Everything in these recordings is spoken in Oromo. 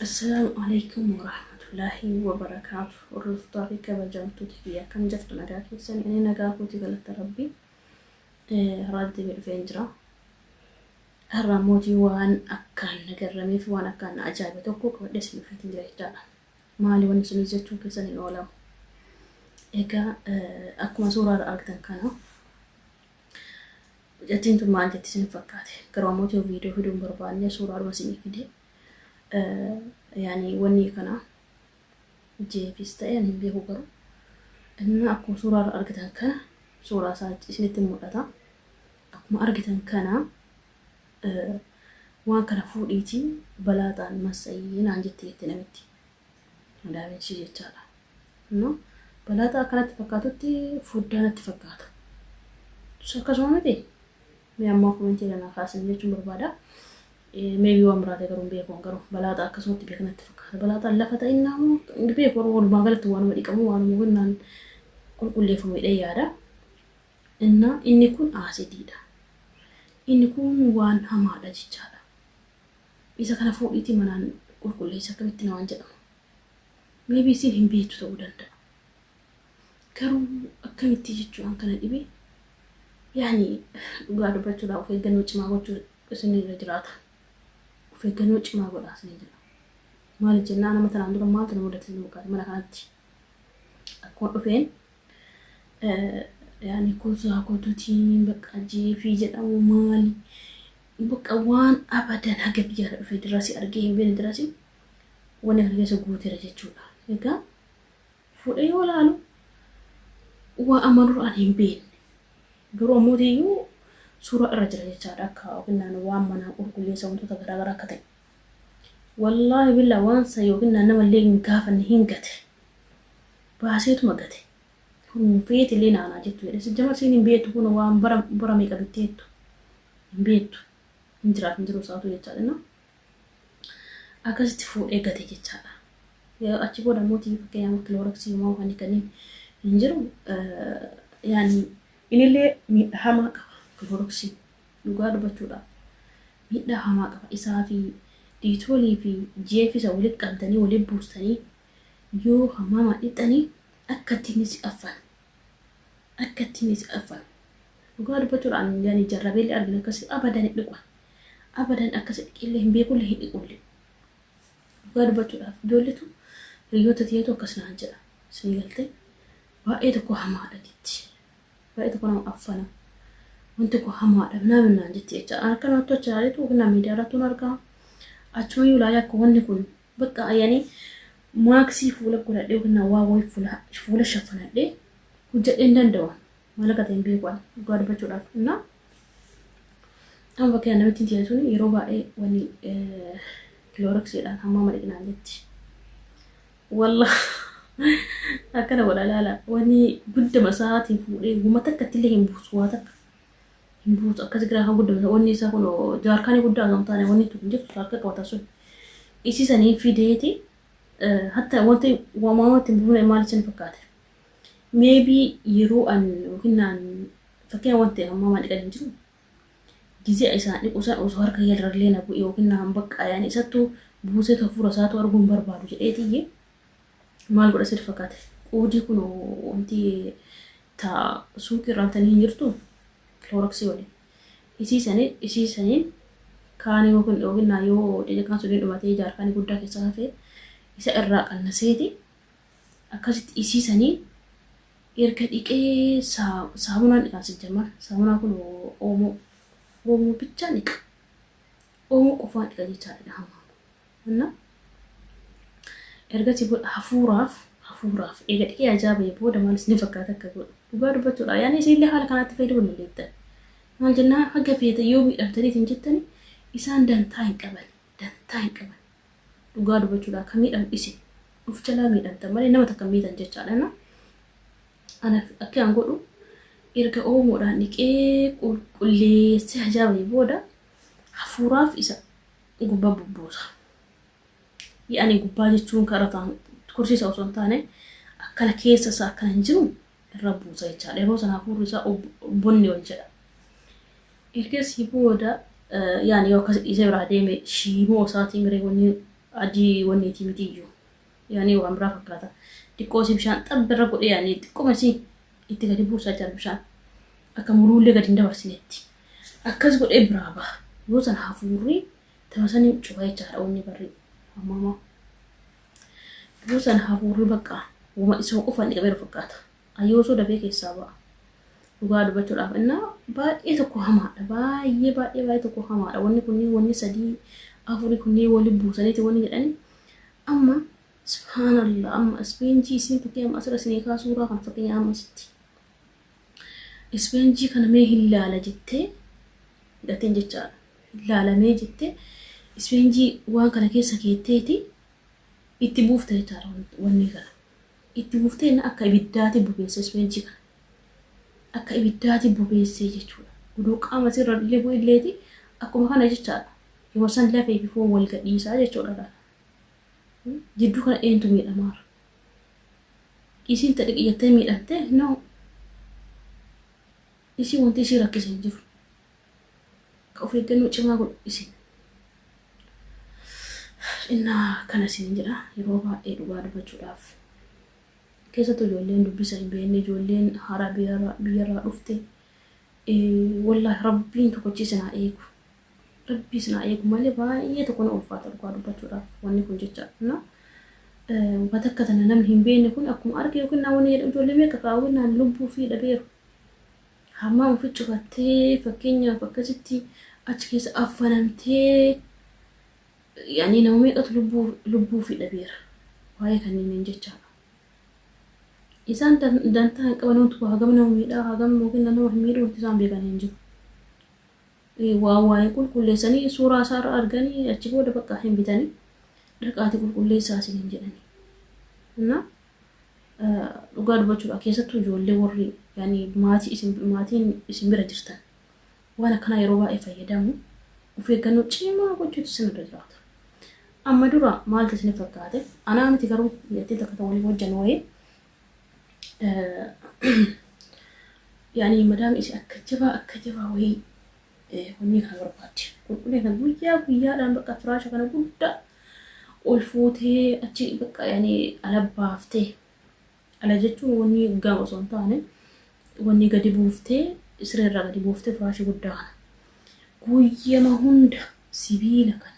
Assalaamu alaikum warahmatullaahi wabarakaatu. Hordoftoota fi kabajamtoota kiyya akkam jirtu nagaa keessan inni nagaa kooti galata rabbi raaddi midhufeen jira. Har'a mootii waan akkaan na garrameef waan akkaan na ajaa'ibe tokko qabadhee isin dhufeetiin jira jechaadha. Maali wanni isin jechuu keessan hin oolamu. Egaa akkuma suuraa irra argitan kana Mucattiin tun maal jetti isin fakkaate? Garuu ammoo yoo viidiyoo fiduu hin barbaanne suuraadhuma isinii fide. Yaani wanni kana jeefis ta'e ani hin beeku garuu. Inni akkuma suuraa irra argitan kana suuraa isaa isinitti mul'ata. Akkuma argitan kana waan kana fuudhiitii balaaxaan massayii naan jette jette namitti. Madaamichi jechaadha. Amma balaaxaa akka natti fakkaatutti foddaa natti fakkaata. Tus akkasuma miti. Mee ammaa komentii kana kaasin jechuun barbaada. Meebii waan biraate garuu hin beeku garuu balaaxaa akkasumatti beeka natti fakkaata. Balaaxaan lafa ta'innaa moo hin beeku garuu walumaa galatti waanuma dhiqamu waanuma gannaan qulqulleeffamu hidhee yaada. Innaa inni kun aasidiidha. Inni kun waan hamaadha jechaadha. Isa kana fuudhiitii manaan qulqulleessi akkamitti namaan jedhama. Maybe isin hin beektu ta'uu danda'a. Garuu akkamitti jechuu an kana dhibe yaani dhugaa dubbachuudhaa of eeggannoo cimaa gochuu isin irra jiraata. Of eeggannoo cimaa godhaa isin jedha. Maaliif jennaan amma tanaan dura maaltu na mudate isin fakkaate mana kanatti. Akkuma dhufeen yaani kuusaa kootuutiin bakka jeefii jedhamu maali Bakka waan abadan haga biyyaara dhufe dirrasi argee hin beene dirasi wani kana keessa guutera jechuudha. Egaa fuudhee yoo laalu waa amma dura an hin beenne garuu ammooti iyyuu suuraa irra jira jechaadha akka yookiin naannoo waan manaa qulqulleessa wantoota garaa garaa akka ta'e. Wallaahi billaa waan san yookiin naan nama illee hin gaafanne hin gate. Baaseetuma gate. Kun feeti illee naanaa jettu jedhe. Sijjamar siin hin beektu kun waan bara bara meeqa bitteettu. hin beektu hin jiraaf hin jiru isaatu jechaa jenna akkasitti fuudhee gate jechaadha. Yoo achi booda immoo tiivi fakkeenyaaf kilooraksii immoo kan kaniin hin jiru yaani inillee miidhaa hamaa qaba kilooraksii dhugaa dubbachuudhaaf miidhaa hamaa qaba isaa fi diitoolii fi jeefisa walitti qabdanii walitti buustanii yoo hamaamaa dhixxanii akka ittiin si affan Akkatti ni jedhafa. Dhugaa dubbachuudha an yani jarrabeellee argin akkasi abadan hin dhiqu. Abadan akkasi dhiqeellee hin beekullee hin dhiqullee. Dhugaa dubbachuudhaaf ijoolletu hiriyoota tiyatu akkas naan jedha. Sii galtee baay'ee tokko hamaadha jetti. Baay'ee tokko nama affana. Wanti koo hamaadha namni naan jetti jecha. Akka namatti achi ilaaleetu yookiin nama miidiyaa irratti argaa. Achuma yoo ilaalee akka wanni kun Bakka ayani maaksii fuula godhadhe yookiin nawaa wayi fuula fuula shafanadhe hojjadhe hin danda'u. Maal akka ta'e hin beeku ani dhugaa dubbachuudhaaf. Innaa amma bakka namittiin tiyya sun yeroo baay'ee wani kilooraksiidhaan hammaa maliqnaan jetti. Wallah akkana godha laala wani gudda masaatiin fuudhee guma takka illee hin buusu waa takka. hin buutu akkas giraa kan guddamsa wanni isaa kun jaarkaanii guddaa kan taane wanni tokko hin jirtu harka qabata sun isii sanii fideeti hatta wanti waamaama ittiin buufne maal isin fakkaate meebi yeroo an yookiin naan fakkeen wanti ammaa maan dhiqan hin jiru gizee isaan dhiqu san osoo harka yalrallee na bu'e yookiin naan baqqaa yaani isattu buusee hafuura isaatu arguu hin barbaadu jedhee tiyye maal godha sir fakkaate qoodii kun wanti ta suuqii irraa bitanii hin jirtuu kilooroksii waliin isii sanii isii saniin kaanii yoo kun dhooginnaa yoo cacaqaan suniin dhumatee jaarkaanii guddaa keessaa hafee isa irraa qannaseeti akkasitti isii sanii erga dhiqee saa- saamunaan dhiqaan sijjamar saamunaa kun oomoo oomoo bichaa dhiqa Oomu qofaadha jechaadha dhahamaa. Anna ergasii booda hafuuraaf hafuuraaf eega dhiqee ajaa ba'e booda maal isin fakkaata akka godhu dhugaa dubbachuudha yaani isinillee haala kanaatti fayyadamuu dandeettan maal jennaan haga feete yoo miidhamtanii isin jettani isaan dantaa hin qaban dantaa hin qaban dhugaa dubbachuudha akka miidhamu isin of jalaa miidhamtan malee nama takka miidhan jechaadha na ana akka an godhu erga oomoodhaan dhiqee qulqulleessee ajaa ba'e booda hafuuraaf isa gubbaa bubbuusa. Yaani gubbaa jechuun kan irra tursiisa osoo hin taane akkana keessa isaa akkana hin jiru irra buusa jechaadha. Yeroo sana hafuurri isaa bonni ol jedha. Ergasii booda yaani yoo akkas dhiisee biraa deeme shiimoo isaatii miree wanni adii wanni itii mitiyyuu. yaani waan biraa fakkaata xiqqoo isii bishaan xabbi irra godhee yaani xiqquma isii itti gadi buusaa jira bishaan akka muruullee gadi hin dabarsinetti akkas godhee biraa baha yoo san hafuurri tamasanii cufa jechaadha wanni barri ammamaa yoo san hafuurri bakka wama isuma qofaan dhiqameeru fakkaata An yoosuu dafee keessaa ba'a. Dhugaa dubbachuudhaaf innaa baay'ee tokko hamaadha. Baay'ee baay'ee baay'ee tokko hamaadha. Wanni kunniin wanni sadii afuri kunniin wali buusaniiti wanni jedhani. Amma subhaanallah amma ispeenjii isiin fakkii amma asirra isinii kaa suuraa kana fakkeenya amma asitti. Ispeenjii kana mee hin laala jettee hidhateen jechaadha. Hin laalamee jettee ispeenjii waan kana keessa keetteeti itti buufte jechaadha wanni kana. Itti fufteenna akka ibiddaati bubeesse isweenchii kana. Akka ibiddaati bubeessee jechuudha. Gudoo qaama isii irra illee bu'elleeti akkuma kana jechaadha. Yeroo san lafee fi foon wal gadhiisaa jechuudha laala. Jidduu kana eentu miidhamaara? Isiin ta dhiqi jettee miidhamtee? No. Isii wanti isii rakkise hin jiru. Of eeggannoo cimaa godhu isin. Innaa kana isin jedha yeroo baay'ee dhugaa dubbachuudhaaf keessattuu ijoolleen dubbisa hin beekne ijoolleen haaraa biyyarraa biyyarraa dhufte wallaahi rabbiin tokkochi isin haa eegu. Rabbii isin haa eegu malee baay'ee tokko na ulfaata dhugaa dubbachuudhaaf wanni kun jecha na wata akka tana namni hin beekne kun akkuma arge yookiin naa wanni jedhamu ijoollee meeqa kaawwinnaan lubbuu fi dhabeeru. Hamma ofi cufattee fakkeenyaaf akkasitti achi keessa affanamtee yaani nama meeqatu lubbuu lubbuu fi dhabeera waa'ee kanneen jechaa isaan dantaa hin qaban wanti hagam nama miidhaa hagam yookiin nama hin miidhu wanti isaan beekan hin jiru Waa waa hin qulqulleessanii suuraa isaa irra arganii achi booda bakka hin bitanii dhaqaati qulqulleessaa isiniin jedhanii. Innaa dhugaa dubbachuudhaa keessattuu ijoollee warri yaani maatii isin maatiin isin bira jirtan waan akkanaa yeroo baay'ee fayyadamu of eeggannoo cimaa gochuutu isin irra jiraata. Amma dura maaltu isin fakkaate? Anaa miti garuu biyyattiin takka ta'uu waliin hojjannu wayii yaani madaam isi akka jabaa akka jabaa wayii wanni kana barbaadde qulqullina kana guyyaa guyyaadhaan bakka firaasha kana guddaa ol fuutee achi bakka yaani ala baaftee ala jechuun wanni gama osoo hin taane wanni gadi buuftee siree irraa gadi buuftee firaasha guddaa kana guyyama hunda sibiila kana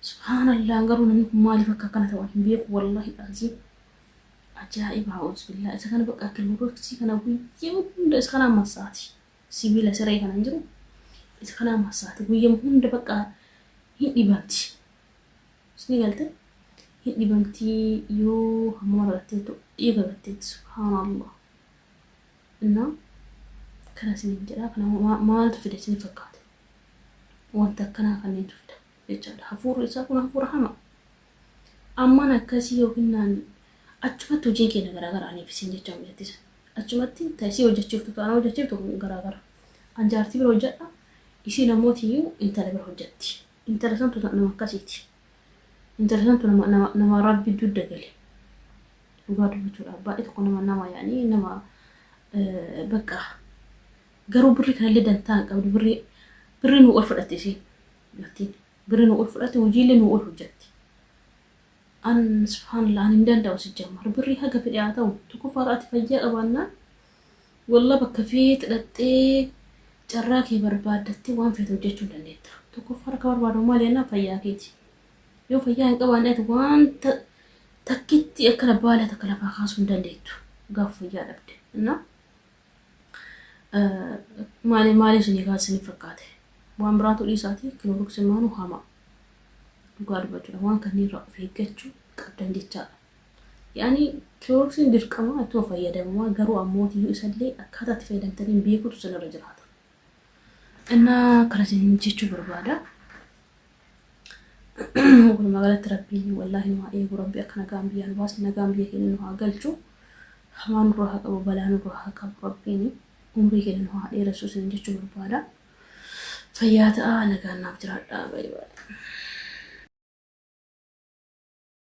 Subhaanallah garuu namni kun maaliif akka akkana ta'u hin beeku wallahi aziim. Ajaa'iba haa'uusbillaa isa kana bakka kiloodoksii kana guyyaa hunda isa kana massaati. Sibiila siree kana hin jiru isa kana massaati guyyaa hunda bakka hin dhibanti. Isni galte hin dhibanti yoo hammama dhalatteetu dhiiga batteetti subhaanallah. Innaa kana isiniin jedhaa kana maaltu fide isin fakkaate. wanta akkanaa kanneentu fida jechaadha. Hafuurri isaa kun hafuura hamaa. Amman akkasii yookiin naan achumatti hojiin keenya garaagara aniif isin jecha mijatti sana. Achumatti taasisii hojjechiiftu taana hojjechiiftu garaagara. An jaartii bira hojjedha. Ishii namooti iyyuu intala bira hojjetti. Intala santu nama akkasiiti. Intala santu nama, nama, nama rabbi dudda gale. Dhugaa dubbachuudhaaf baay'ee tokko nama nama yaanii nama eh, bakka Garuu birri kanallee dantaa hin qabdu birri birri nuu ol fudhatti isiin dubartiin birri nuu ol fudhatti hujiillee nuu ol hojjatti an subhaanallah an hin danda'u sijjammar birri haga fedhe haa ta'u tokkoffaadha ati fayyaa qabaannaan wallah bakka feet dhaxxee carraa kee barbaaddattee waan feet hojjechuu hin dandeetta tokkoffaa akka barbaadamu maal jennaa fayyaa keeti yoo fayyaa hin qabaanne ati wanta takkitti akkana baala takka lafaa kaasuu hin dandeettu gaaf fayyaa dhabde innaa Maali maali isinii kaa isinii fakkaate waan biraatu dhiisaati kiloroksi maanu hamaa dhugaa dubbachuudha waan kanneen irraa of eeggachuu qabdan jechaadha. Yaani kiloroksiin dirqama ittuma fayyadamumaa garuu ammoo tiyyuu isallee akkaataa itti fayyadamtaniin beekuutu isinirra jiraata. Innaa akkana isiniin jechuu barbaada. Walumaa galatti rabbiin wallaahi nu haa eegu rabbi akka nagaan biyyaa nu baase nagaan biyya keenya nu haa galchu. Hamaa nurra haa qabu balaa nurra haa qabu rabbiin umrii keenya nu haa dheeressu isiniin jechuu barbaada. Fayyaa ta'aa nagaan naaf jiraadhaa baay'ee.